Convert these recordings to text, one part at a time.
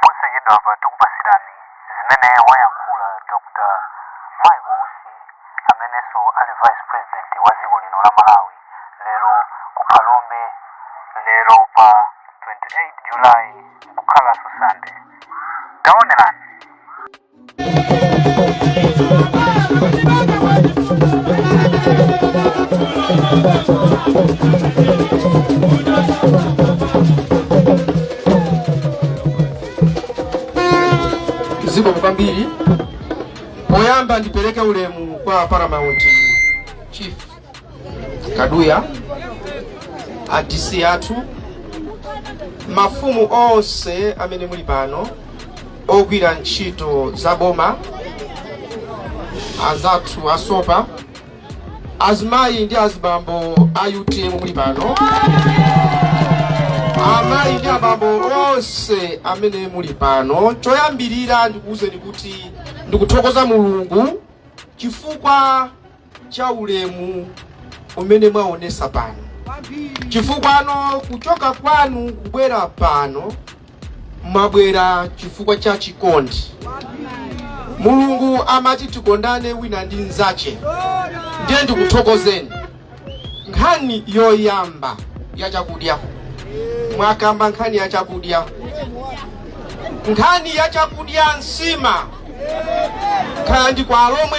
posachedwapa tikupatsirani zimene wayankhula dr michael usi amenenso ali vice president wa dziko lino la malawi lero ku phalombe lero pa 28 july kukhalanso Sunday taonerani zikomo kwambiri poyamba ndipereke ulemu kwa paramount chief kaduya a DC athu mafumu onse amene muli pano ogwira ntchito za boma azathu asopa azimayi ndi azibambo a utm muli pano amayi ndi abambo onse amene muli pano choyambirira ndikuwuzeni kuti ndikuthokoza mulungu chifukwa cha ulemu umene mwaonesa pano chifukwa kuchoka kwanu kubwera pano mwabwera chifukwa cha chikondi mulungu amati tikondane wina ndi mnzache ndiye ndikuthokozeni nkhani yoyamba ya chakudya mwakamba nkhani ya chakudya nkhani ya chakudya nsima kaya ndi kwa alomwe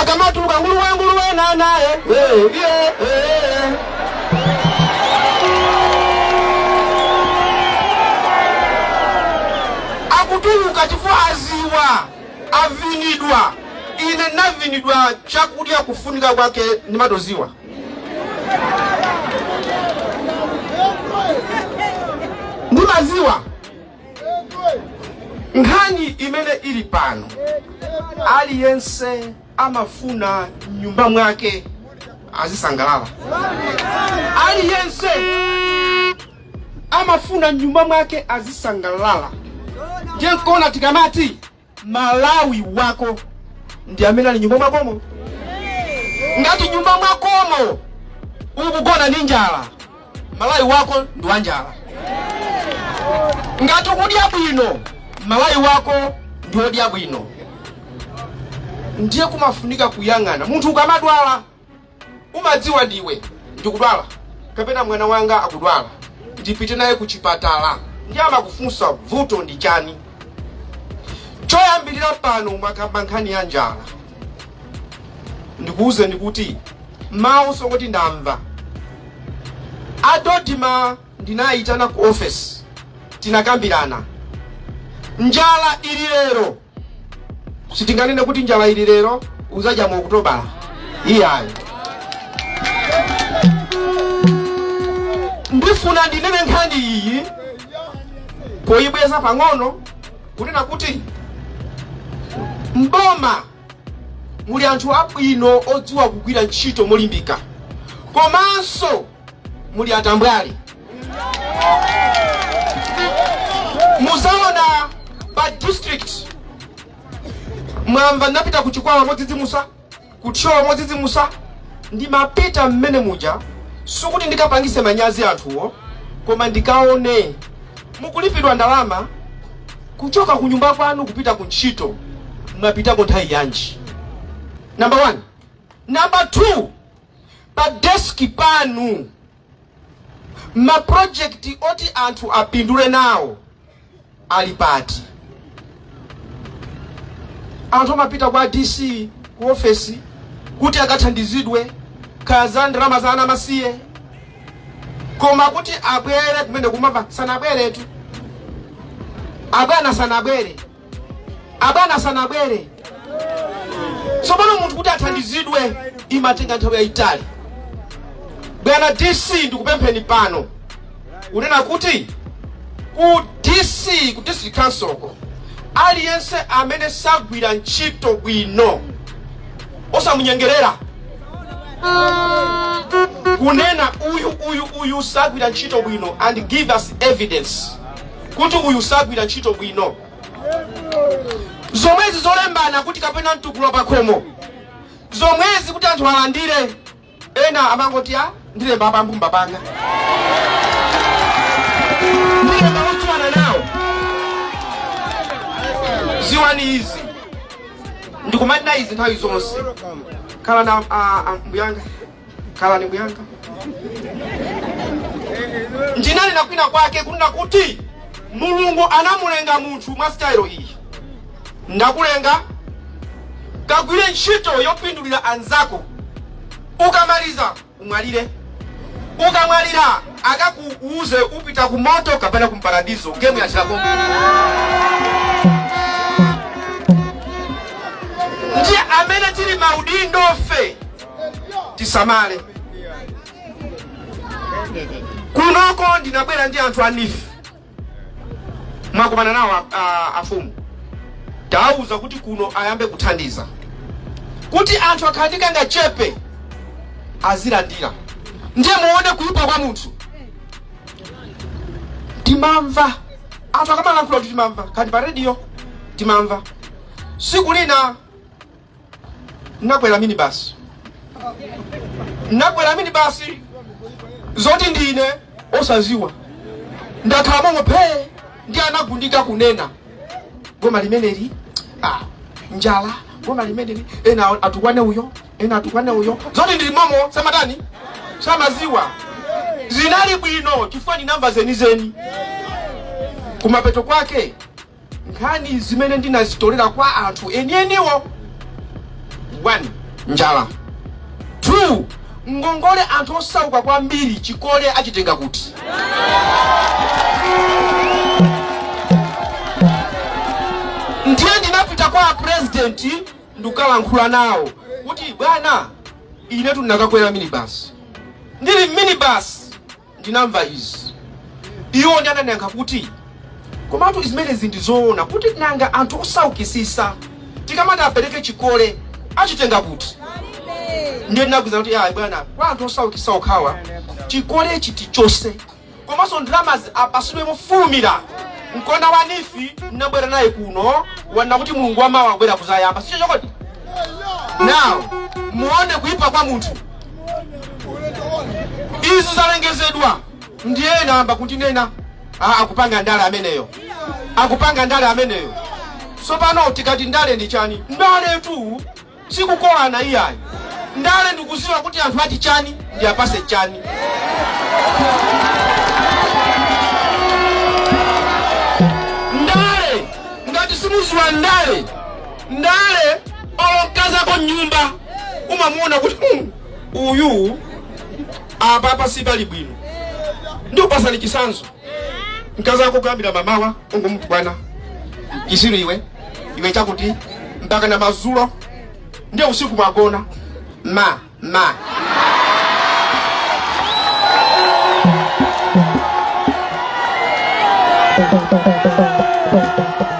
akamatuluka nguluwe nguluwe nanaye akutuluka chifukwa aziwa avinidwa ine navinidwa chakudya kufunika kwake ndimatoziwa ndimaziwa nkhani imene ili pano aliyense amafuna nyumba mwake azisangalala aliyense amafuna nyumba mwake azisangalala ndiye nkuona tikamati Malawi wako ndi amene ali nyumba mwakomo. Ngati nyumba mwakomo ukugona ndi njala, Malawi wako ndi wa njala. Ngati ukudya bwino, Malawi wako ndi wodya bwino. Ndiye kumafunika kuyang'ana munthu ukamadwala umadziwa ndi iwe ndikudwala kapena mwana wanga akudwala ndipite naye ku chipatala ndiye amakufunsa vuto ndi chani choyambirira pano mwakamba nkhani ya njala ndikuuzeni kuti mawu songoti ndamva adodima ndinayitana ku ofesi tinakambirana njala ili lero sitinganene kuti njala ili lero uzadya mu okutoba iyayi ndifuna ndinene nkhani iyi poyibweza pang'ono kunena kuti mboma muli anthu abwino odziwa kugwira ntchito molimbika komanso muli atambwali mudzaona pa district mwamva ndinapita ku chikwawa modzidzimusa ku thyolo modzidzimusa ndimapita mmene muja sikuti ndikapangise manyazi anthuwo koma ndikaone mukulipidwa ndalama kuchoka ku nyumba kwanu kupita ku ntchito mwapitako nthawi yanji number one number two pa desk panu ma project oti anthu apindule nawo ali pati anthu amapita kwa dc ku ofesi kuti akathandizidwe kaya za ndalama za ana amasiye koma kuti abwere kumene kumava sanabweretu abwana sanabwere abwana sanabwere tsopano munthu kuti athandizidwe imatenga nthawi yayitali bwana dc ndikupempheni pano kunena kuti ku dc ku district council ko aliyense amene sagwira ntchito bwino osamunyengerera kunena uyu uyu uyu sagwira ntchito bwino and give us evidence kuti uyu sagwira ntchito bwino zomwezi zolembana kuti kapena mtukula pakhomo zomwezi kuti anthu alandire ena amangoti a ndilemba a pa mbumba panga ndilemba ocheza nawo dziwani izi ndikumanena izi nthawi zonse khala na ah, ah, mbuyanga khalani mbuyanga ndinanena kwina kwake kunena kuti mulungu anamulenga munthu mwa sitayilo iyi ndakulenga kagwire ntchito yopindulira anzako ukamaliza umwalire ukamwalira akakuuze upita ku moto kapena ku mparadizo gemu ya chilakoyi ndiye amene tili maudindofe tisamale kunoko ndinabwera ndi anthu a NEEF mwakumana nawo a- a- afumu tawauza kuti kuno ayambe kuthandiza kuti anthu akhale ndi kangachepe azilandira ndiye muone kuyipa kwa munthu timamva anthu akamalankhula kuti timamva kani pa rediyo timamva siku lina nakwera mini basi nakwera mini basi zoti ndine osaziwa ndakhala momo phee ndiye anagundika kunena boma limeneli ah, njala boma limeneli ena atukwane uyo ena atukwane uyo zoti ndili momo samatani samaziwa zinali bwino chifukwa ndinamva zenizeni kumapeto kwake nkhani zimene ndinazitolera kwa anthu enieniwo 1 njala 2 ngongole anthu osauka kwambiri chikole achitenga kuti ndiye ndinapita kwa apurezidenti ndikukalankhula nawo kuti bwana inetu ndinakakwera minibasi ndili mminibasi ndinamva izi. Iwo ndiye anandiyankha kuti, komatu zimenezi ndi zoona kuti nanga anthu osaukisisa tikamati apereke chikole achitenga kuti? Ndiye ndinawauza kuti ayi bwana, kwa anthu osaukisa okhawa chikolechi tichose komanso ndalamazi apasidwe mofulumira mkona wa NEEF ndinabwera naye kuno wanena kuti mulungu wamawa abwera kuzayamba si choncho kodi now muone kuipa kwa munthu izi zalengezedwa ndiye ena ayamba kundinena ah, akupanga ndale ameneyo akupanga ndale ameneyo sopano tikati ndale ndi chani ndaletu sikukolana iyayi ndale ndikuziwa kuti anthu ati chani ndiwapase chani ndale ngati simuziwa ndale ndale olo mkazako mnyumba umamuona kuti "Hmm, uyu apapa sipali bwino ndikupasani chisanzo mkazi wako kuyambira mamawa ungomutukwana chisiru iwe iwe chakuti mpaka na mazulo ndiye usiku mwagona ma ma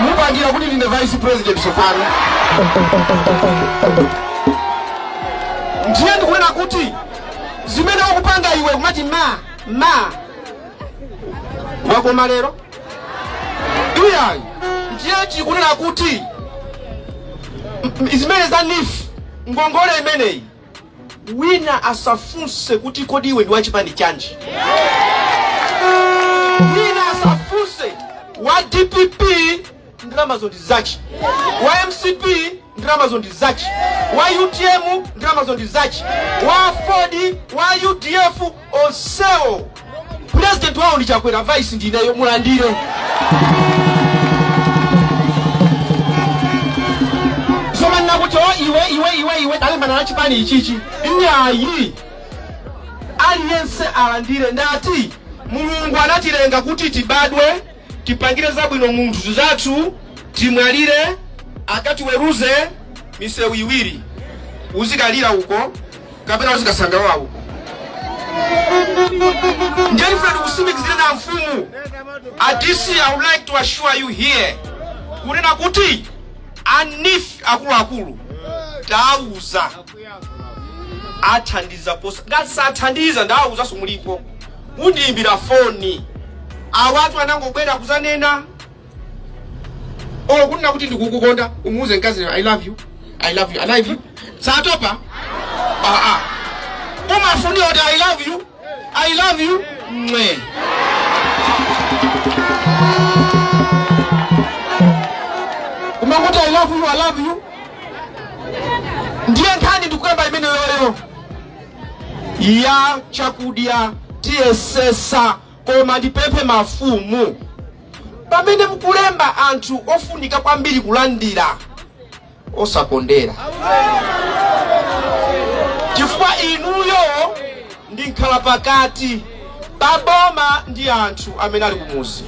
mupangira kuti ndine vice president tsopano ndiye ndikunena kuti zimene ukupanga iwe kumati ma ma wakoma lero iyayi ndiye ndikunena kuti m- zimene za neef ngongole imeneyi wina asafunse kuti kodi iwe ndi wachipani chanji wina asafunse wa dpp ndalamazo ndi zache wa mcp ndalamazo ndi zache wa utm ndalamazo ndi zache wa aford wa udf onsewo president wawo ndi chakwera vice ndineyo mulandire somanena kuti o iwe iwe iwe iwe talimbana na chipani ichichi nyayi aliyense alandire ndati mulungu anatilenga kuti tibadwe tipangire zabwino munthu nzathu timwalire akatiweruze misewu iwiri uzikalira uko kapena uzikasangalala uko ndiye ndifuna ndikusimikizireni amfumu a dc i would like to assure you here kunena kuti a neef akuluakulu tauza athandiza posa ngati sathandiza ndawuzanso mulipo mundiyimbira foni awatu anangobwera kuzanena oh kunena kuti ndikukukonda umuuze mkazi i love you i love you i love you satopa ah ah umafunira kuti i love you i love you mwe umangoti i love you i love you ndiye nkhani ndikuyamba imeneyoyo ya chakudya tiyesesa Koma ndipemphe mafumu, pamene mukulemba anthu ofunika kwambiri kulandira, osakondera chifukwa inuyo ndi mkhalapakati pa boma ndi anthu amene ali kumuzi.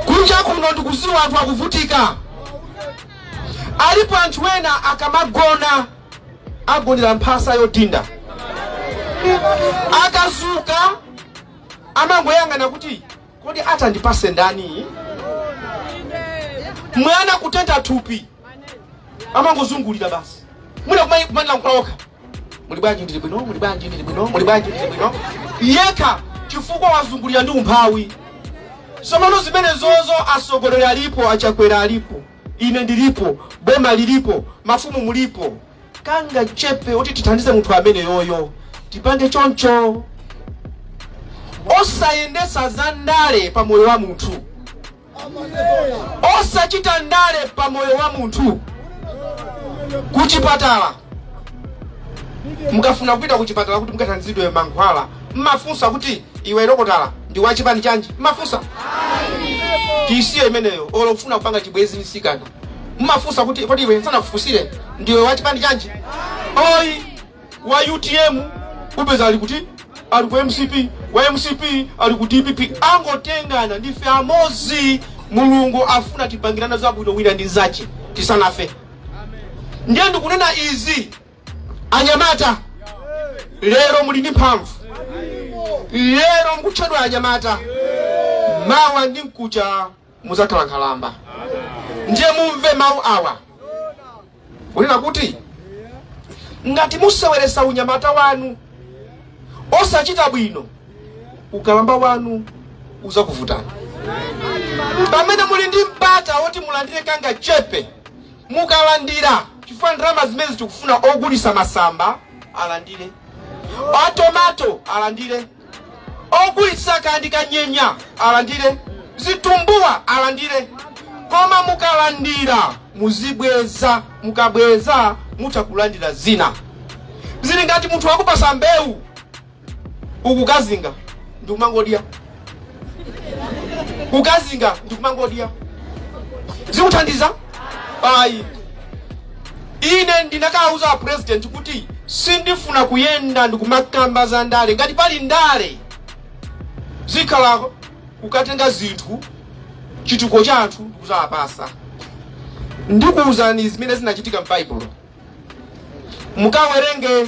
Kunja kuno ndikuziwa anthu akuvutika, alipo anthu ena akamagona agonera mphasa yodinda, akazuka amangoyang'ana kuti kodi atandipase ndani mwana kutentha thupi amangozungulira basi mwina kumani- kumazilankhula okha muli bwanji ndili bwino muli bwanji ndili bwino muli bwanji ndili bwino yekha chifukwa wazungulira ndi umphawi somano zimenezozo asogoleri alipo achakwera alipo ine ndilipo boma lilipo mafumu mulipo kangachepe kuti tithandize munthu ameneyoyo tipange choncho osayendesa za ndale pa moyo wa munthu osachita ndale pa moyo wa munthu kuchipatala mukafuna kupita kuchipatala kuti mukathandizidwe mankhwala mmafunsa kuti iwe dokotala ndi wachipani chanji mmafunsa tisiye imeneyo olo kufuna kupanga chibwenzi mtsikana mumafunsa kuti kodi iwe usanafunsire ndiwe wa chipani chanji ayi wa utm upeza ali kuti ali ku mcp wa mcp ali ku dpp angotengana ndife amozi mulungu afuna tipangirane zabwino wina ndi nzache tisanafe ndiye ndikunena izi anyamata lero muli ndi mphamvu lero mukutchedwa anyamata mawa ndi mkucha mudzakhala nkhalamba ndiye mumve mawu awa kunena kuti ngati museweresa unyamata wanu osachita bwino ukalamba wanu uzakuvutani pamene muli ndi mpata woti mulandire kangachepe mukalandire chifukwa ndalama zimene tikufuna ogulisa masamba alandire atomato alandire ogulitsa kaya ndi kanyenya alandire zitumbuwa alandire koma mukalandira muzibweza mukabweza mutha kulandira zina zili ngati munthu wakupasa mbewu ukukakazinga ndikumangodya kukazinga ndikumangodya zikuthandiza ayi ine ndinakawuza a president kuti sindifuna kuyenda ndikumakamba za ndale ngati pali ndale zikhala kukatenga zinthu chitukuko cha anthu ndikuzawapasa ndikuwuzani zimene zinachitika m'baibulo mukawerenge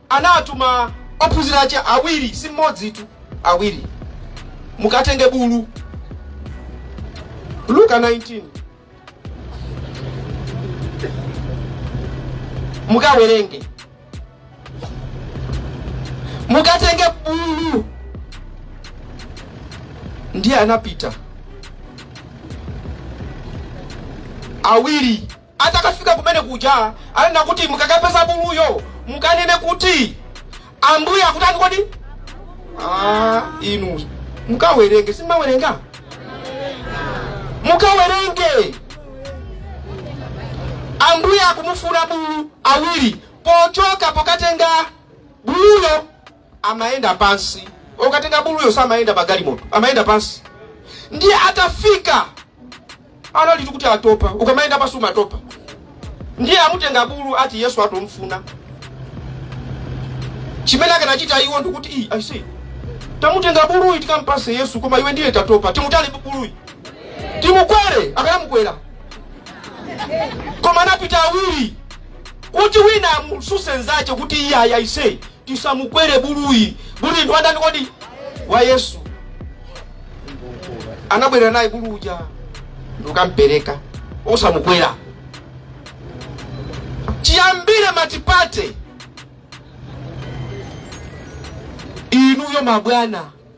anatuma ophunzira ache awiri, si mmodzitu, awiri, mukatenge bulu. Luka 19 mukawerenge, mukatenge bulu. Ndiye anapita awiri Atakafika kumene kuja ananena kuti mukakapeza buluyo mukanene kuti Ambuye akutani kodi? Ah, inu mukawerenge simumawerenga mukawerenge Ambuye akumufuna bulu awiri pochoka pokatenga buluyo amayenda pansi okatenga buluyo samayenda pa galimoto amayenda pansi ndiye atafika analitu kuti atopa ukamayenda pansi umatopa ndiye amutenga bulu ati yesu akumfuna chimene akanachita iwo ndikuti "Ii, aise tamutenga buluyi tikampase yesu koma iwe ndiye tatopa ndi mutali buluyi timukwere akanamukwera koma anapita awiri kuti wina amususe nzache kuti iyayi aise Tisamukwere buluyi. Buluyi ndi wa ndani kodi? Wa Yesu. Anabwera naye bulu uja ndikukampereka osamukwera. Chiyambire matipate inuyo mabwana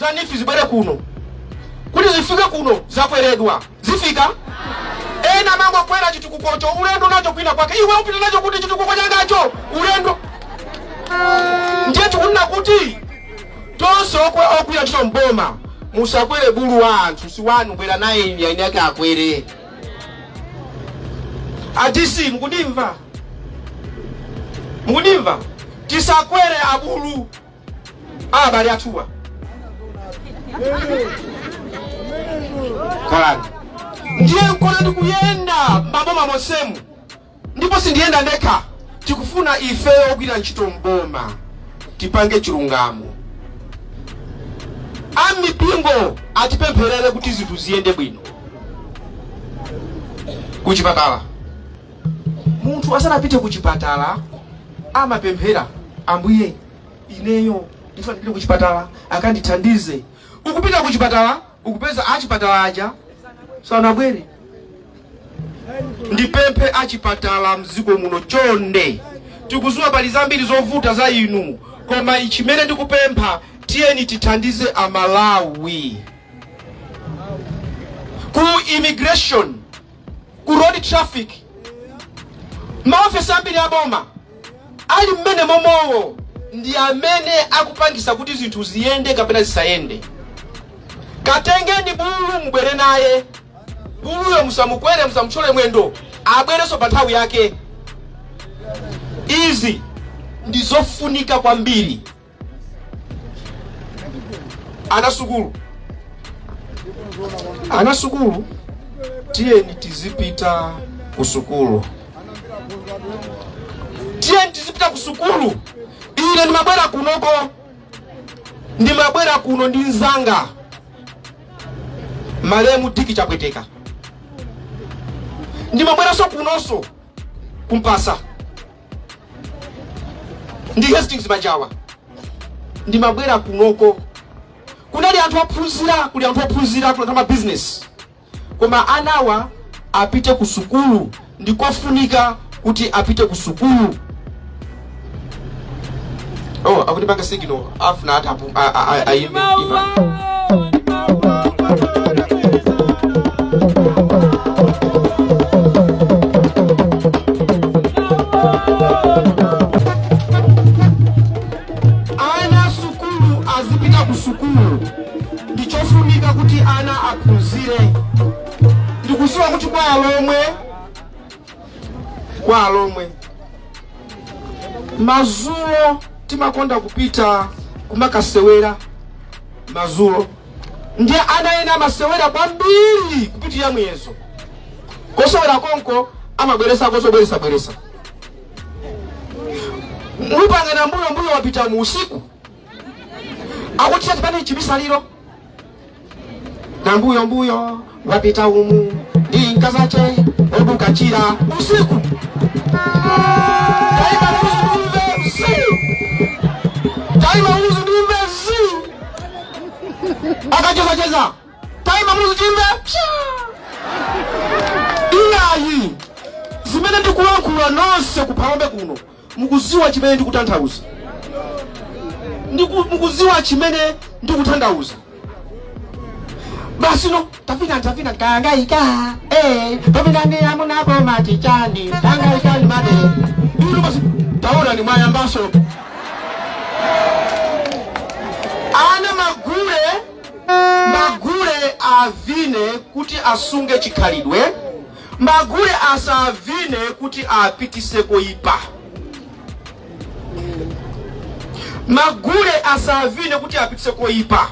za NEEF zibwere kuno kuti zifike kuno zakweredwa zifika ena amangokwera chitukukocho ulendo nacho kwina kwake iwe ukupita nacho kuti chitukuko changacho ulendo ndiye tikunena kuti tonse okwe- ogwira ntchito mboma musakwere bulu wa anthu si wanu bwera naye eni ake akwere aise mukundimva mukundimva tisakwere abulu a abale athuwo khalani ndiye nkona ndikuyenda m'maboma monsemu ndipo sindiyenda ndekha tikufuna ifeyo ogwira ntchito mboma tipange chilungamo amipingo atipempherere kuti zinthu ziyende bwino kuchipatala munthu asanapite ku chipatala amapemphera ambuye ineyo ndifuna ndipite ku chipatala akandithandize ukupita ku chipatala ukupeza achipatala aja sanabwere ndipemphe achipatala mdziko muno chonde tikuziwa pali zambiri zovuta za inu koma chimene ndikupempha tiyeni tithandize amalawi ku immigration ku road traffic maofisa ambiri aboma ali mmene momowo ndi amene akupangisa kuti zinthu ziyende kapena zisayende katengeni bulu mubwere naye buluyo musamukwere musamutchole mwendo abwerenso pa nthawi yake izi ndi zofunika kwambiri ana sukulu ana sukulu tiyeni tizipita ku sukulu tiyeni tizipita ku sukulu ine ndimabwera kunoko ndimabwera kuno ndi mzanga malemu diki chapweteka ndimabweranso kunonso ku Mpasa ndi hastings majawa ndimabwera kunoko kunali anthu ophunzira kuli anthu ophunzira kuli anthu amabizinesi koma anawa apite ku sukulu ndikofunika kuti apite ku sukulu Oh, akutipanga signal afuna atha apu- a- a- a- ayimbe ipa. ana sukulu azipita ku sukulu ndichofunika kuti ana aphunzire ndikuziwa kuti kwa alomwe kwa alomwe mazulo timakonda kupita kumakasewera mazulo ndiye ana ena amasewera kwambiri kupitira muyezo kosewera konko amabweresa kozobweresa bweresa mupangana mbuyo mbuyo wapita umu usiku akuti tipange chibisaliro nambuyo mbuyo wapita umu ndi nkazache oduka chira usiku taima uzu ndimve usiku taima uzu ndimve usiku akacheza cheza taima uzu ndimve iyayi zimene ndikulankhula nonse ku phalombe kuno Mukuziwa chimene ndikutanthauza? Ndiku, mukuziwa chimene ndikutanthauza? Basi no tavina tavina kanga ika eh tavina ni amunapo mati chani kanga ika ni mati Ndio basi taona ni mwayambaso Ana magule magule avine kuti asunge chikhalidwe Magule asavine kuti apitise koipa. Magule asavine kuti apitise koipa.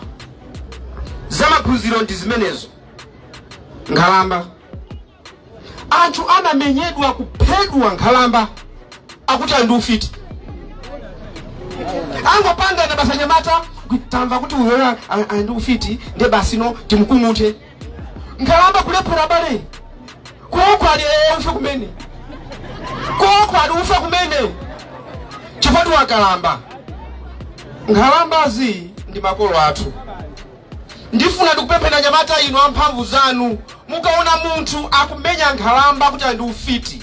Zamaphunziro ndi zimenezo. Nkhalamba. Anthu amamenyedwa kuphedwa nkhalamba akuti ali ndi ufiti. Angopangana basi anyamata tamva kuti uyoyo ali ndi ufiti ndiye basi no timukung'uthe. nkhalamba kulephera abale kuoko ali ee ufe kumene kuoko ali ufe kumene chifukwa ndi wokalamba nkhalambazi ndi makolo athu ndifuna ndikupempheni anyamata inu amphamvu zanu mukaona munthu akumenya nkhalamba kuti ali ndi ufiti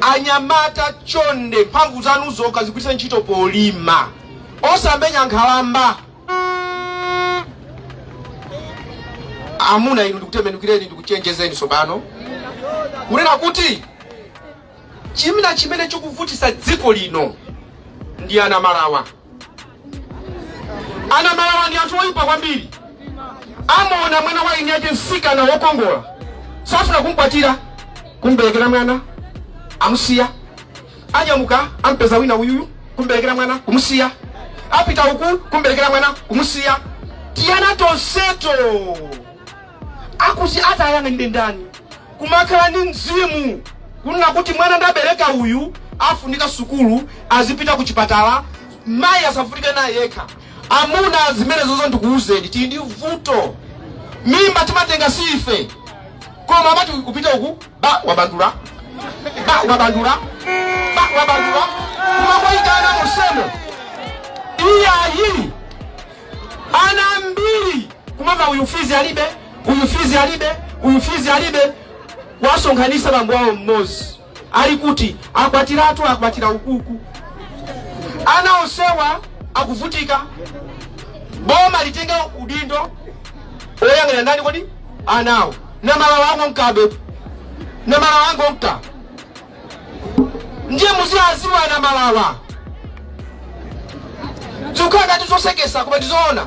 anyamata chonde mphamvu zanu zokha zigwiritse ntchito polima osamenya nkhalamba amuna inu ndikutembenukireni ndikuchenjezeni tsopano kunena kuti chimene chimene chikuvutisa dziko lino ndi anamalawa anamalawa ndi anthu oyipa kwambiri amaona mwana wa ine ati msikana wokongola safuna kumkwatira kumberekera mwana amusiya anyamuka ampeza wina uyuyu kumberekera mwana kumusiya apita uku kumberekera mwana kumusiya tiyana tonseto akuti atiyang'anire ndani kumakhala ndi mzimu kunena kuti mwana ndabereka uyu afunika sukulu azipita ku chipatala mayi asavutike naye yekha amuna zimenezozo ndikuwuzeni tili ndi vuto mimba timatenga si ife koma amati kupita uku ba wabandula ba wabandula ba wabandula kumakoyitana musemo iyayi Ana ambiri kumamva uyu fizi alibe, uyu fizi alibe, uyu fizi alibe, kuwasonkhanisa bambo awo mmodzi ali kuti akwatiratu, akwatira ukuku. Ana onsewa akuvutika, boma litenge udindo oyang'anira ndani kodi anawo namalawa wangomkabe namalawa wangomka ndiye muziwaziwa anamalawa zikukhala ngati zosekesa koma ndizoona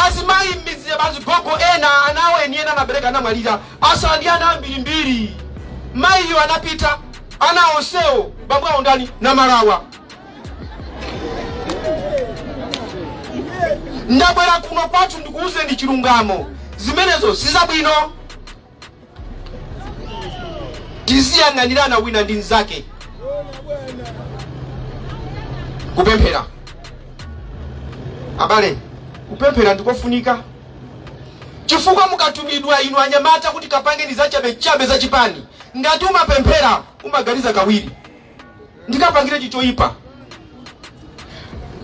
azimayi m'midzi amazigogo ena anawo eni ake anabereka anamwalira atsala ndi ana ambirimbiri mayiyo anapita ana onsewo bambo awo ndani namalawa ndabwera kuno kwathu ndikuwuzeni chilungamo zimenezo sizabwino tiziyang'anirana wina ndi mnzake kupemphera abale kupemphera ndikofunika chifukwa mukatumidwa inu anyamata kuti kapangeni zachabechabe za chipani ngati umapemphera umaganiza kawiri ndikapangire chichoyipa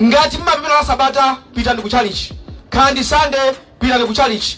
ngati mumapemphera la sabata pitani ku chalichi kaya ndi sande pitani ku chalichi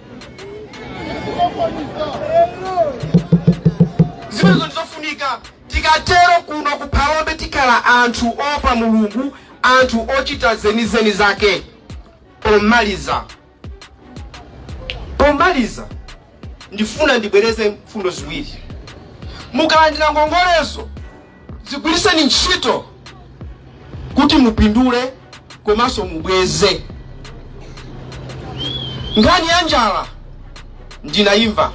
zimenezo ndizofunika tikatero kuno ku Phalombe tikhala anthu oopa mulungu anthu ochita zenizeni zake pomaliza pomaliza ndifuna ndibwereze mfundo ziwiri mukalandira ngongolezo zigwiritseni ntchito kuti mupindule komanso mubweze nkhani ya njala ndinayimva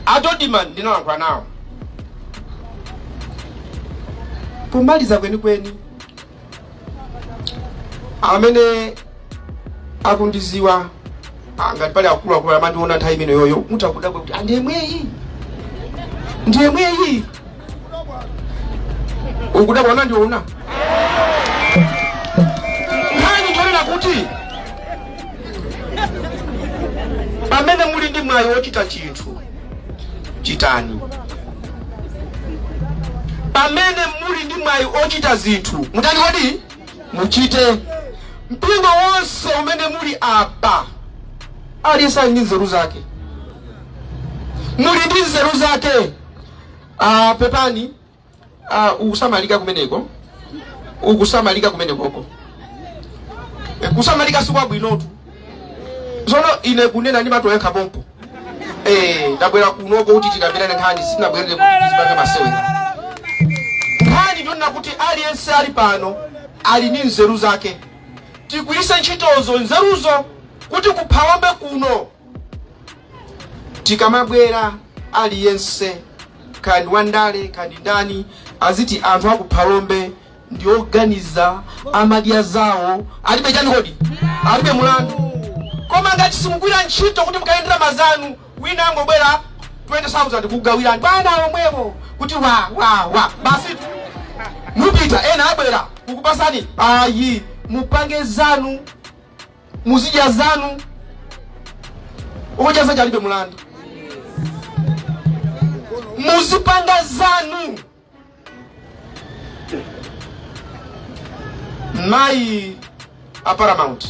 a Dodma ndinalankhula nawo pomaliza kwenikweni amene akundiziwa ngati pali akuluakulu amandiona nthawi imene ijayo mutha kudabwa kuti "Ah, ndi yemweyi ndi yemweyi ukudabwa unandiona mutani? Nkhani ndi yonena kuti pamene muli ndi mwayi wochita chinthu chitani pamene muli ndi mwayi ochita zinthu mutani kodi muchite mpingo wonse umene muli apa aliyense ali ndi nzeru zake muli ndi nzeru zake pepani uh, ukusamalika kumeneko ukusamalika kumenekoko Eh, kusamalika sikwabwinotu tsono ine kunena ndi mato yekha pompo Eh, ndabwera kunoko kuti tikambirane nkhani sinabwerere kuti tizipange masewera nkhani ndi yonena kuti aliyense ali pano ali ndi nzeru zake tigwiritse ntchitozo nzeruzo kuti ku Phalombe kuno tikamabwera aliyense kaya ndi wandale kaya ndi ndani aziti anthu a ku Phalombe ndi oganiza amadya zawo alibe chani kodi alibe mulandu koma ngati simugwira ntchito kuti mukayendera ma anzanu wina angobwera 20000 kugawirani pomwepo kuti wa wa wa basi mupita ena abwera kukupasani ayi mupange zanu muzidya zanu ukadya zako ulibe mulandu muzipanga zanu mayi a paramount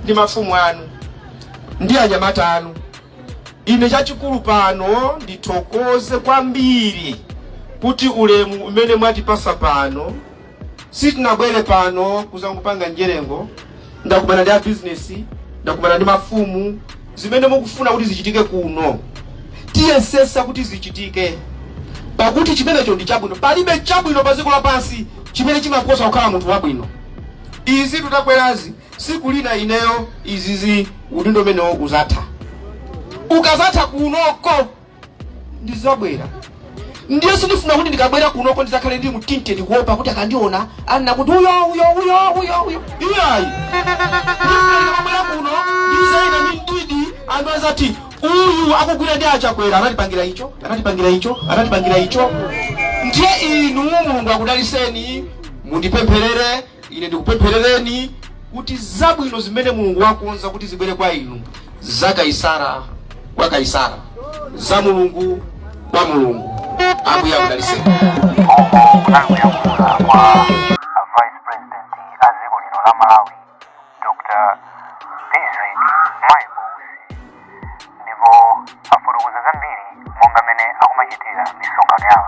ndi mafumu anu ndi anyamata anu ine chachikulu pano ndithokoze kwambiri kuti ulemu umene mwatipasa pano sitinabwere pano kuzangopanga njerengo ndakumana ndi abizinesi ndakumana ndi mafumu zimene mukufuna kuti zichitike kuno tiyesesa kuti zichitike pakuti chimenecho ndi chabwino palibe chabwino pa dziko lapansi chimene chimaposa kukhala munthu wabwino izi tutakwerazi siku lina ineyo izizi udindo umenewo uzatha ukazatha kunoko ndizabwera ndiye sindifuna kuti ndikabwera kunoko ndizakhale ndi mthinthe ndikuopa kuti akandiona anena kuti uyo uyo uyo uyo uyo iyayi ndifuna ndikabwera kuno ndizayenda ndi mdidi anthu azati uyu akugwira ndi a Chakwera anatipangira icho anatipangira icho anatipangira icho ndiye inu mulungu akudaliseni mundipempherere ine ndikupempherereni kuti zabwino zimene mulungu wakonza kuti zibwere kwa inu za kaisara kwa kaisara za mulungu kwa mulungu ambuye akudaliseni kuyankhula kwa a vice president a dziko lino la malawi dr Michael Usi ndipo afotokoza zambiri monga mmene akumachitira misonkhano yawo